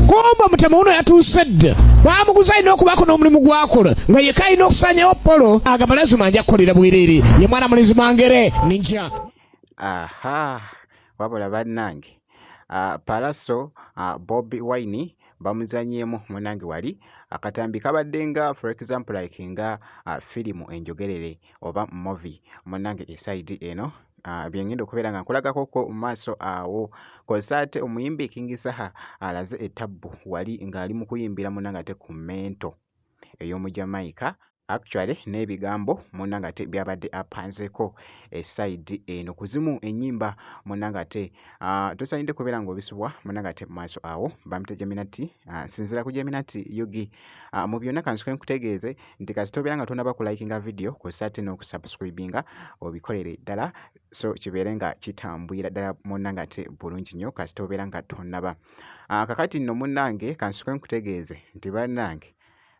Gomba mutema uno yatuuse dda bamuguza alina okubaako n'omulimu gwakola nga yeka alina okusanyawo polo agamba lazima nja kukolera bwereere ye mwana mulizi mangere ninja aha wabula bannange ah, palaso ah, bobi wine bamuzanyeemu munange wali akatambi kabadde nga for example like nga uh, firimu enjogerere oba movi munange esaidi eno Ah, byengenda okubeera nga nkulagako ko mu maaso awo kozesa ate omuyimbi king saha alaze etabbu wali ng'ali mu kuyimbira muna nga te ku mento ey'omu jamaica actually n'ebigambo muna nga te byabadde apanzeko esaidi eno ku zimu ennyimba muna nga te ah, tusaanidde kubeera ng'obisubwa muna nga te mu maaso awo bamita jaminati ah, sinzira ku jaminati yugi mu byonna kansuke nkutegeeze nti kasita obeera nga tonaba ku likinga video kw'ossa ate n'okusubscribinga obikolere ddala so kibeere nga kitambwira ddala munna nga te bulungi nnyo kasita obeera nga tonaba ah, kakati nno munnange kansuke nkutegeeze nti bannange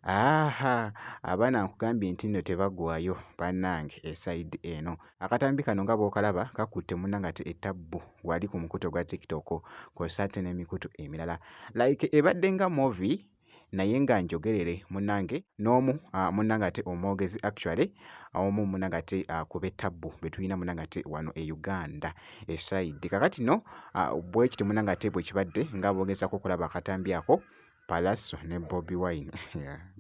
aha abaana nkugambye nti nno tebagwayo bannange esayidi eno akatambi kano nga bw'okalaba kakutte munna nga te etabbu wali ku mukutu ogwa tiktok kw'ossa ate n'emikutu emirala like ebadde nga movi naye nga njogerere munange n'omu uh, munange ate omwogezi actually omu munange ate uh, kube tabbu betulina munange ate wano e uganda esaidi kakati no uh, bwekiti munange ate bwekibadde nga bogezako okulaba akatambi ako palaso ne bobi wine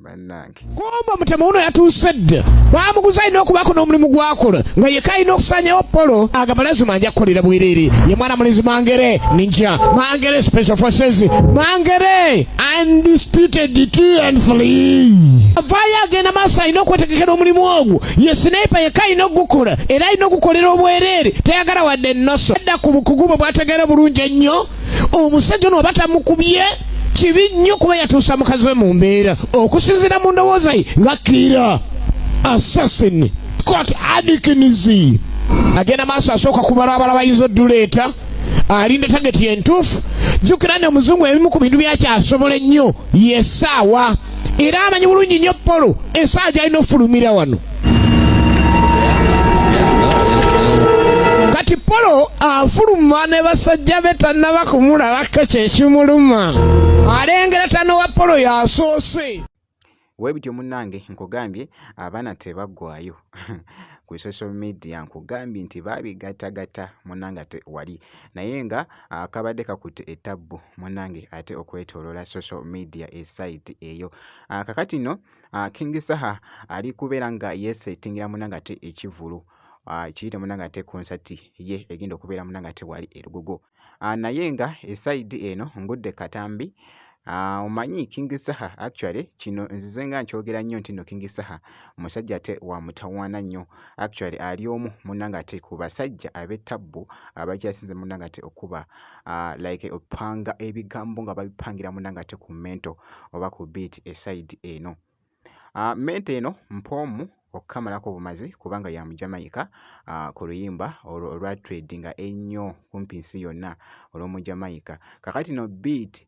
banange Gomba mutema uno yatuuse dda bamuguza alina okubaako n'omulimu gwakola nga yeka alina okusanyawo polo agamba lazima nja kukolera bwereere ye mwana mulizi mangere ninja mangere special forces mangere undisputed two and three avaayo agenda maaso alina okwetegekera omulimu ogwo ye sinepa yeka alina okugukola era alina okukolera obwereere tayagala wadde ennoso adda ku bukugu bwe bwategeera bulungi ennyo omusajja ono oba tamukubye kibi nnyo kuba yatuusa mukazi we mu mbeera okusinzira mu ndowooza ye nga kiira assassin scott adikins agenda maaso asooka kubalabala bayinza oduleeta alinda tageti entuufu jjukira nti omuzungu ebimu ku bintu byakyasobola ennyo yesaawa era amanyi bulungi nnyo polo esaawa gyalina okufulumira wano kati polo afuluma ne basajja be tannaba kumulabako kyekimuluma alengera tano wa polo yasoose we bityo munnange nkugambye abaana tebaggwayo ku social media nkugambye nti baabigattagatta munnange ate wali naye nga ah, kabadde kakutte ettabbu munnange ate okwetooloola social media esayiti eyo ah, kakati no uh, king saha ali kubeera nga yesettingira munangate ekivulu uh, kiyite munangate concert ye egenda okubeera munangate wali erugogo uh, naye nga esaidi eno ngudde katambi Ah, omanyi uh, King Saha actually kino nzize nga nkyogera nnyo nti no King Saha musajja te wa mutawaana nnyo actually ali omu munangate ku basajja ab'ettabbu abakyasinze munangate okuba uh, like opanga ebigambo nga babipangira muna nga te ku mento oba ku beat esaidi eno uh, mento eno mpoomu okukamalako obumazi kubanga ya mujamaika uh, ku luyimba olwa tradinga ennyo kumpi nsi yonna olw'omujamaika kakati no beat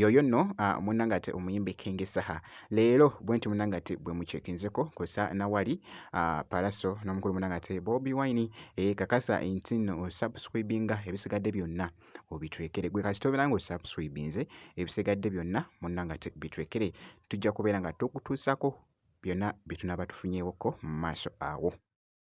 Yoyo no uh, munange ate omuyimbi King Saha leero bwenti munange ate bwe muchekinzeko kosa na wali uh, Palaso no mukulu munange ate Bobby Wine eh, kakasa nti no subscribinga ebisigadde byonna obitulekere gwe kasita obeera nga osubscribinze ebisigadde byonna munange ate bitulekere tujja kubeera nga tukutuusako byonna bye tunaaba tufunyeewokko mu maaso awo.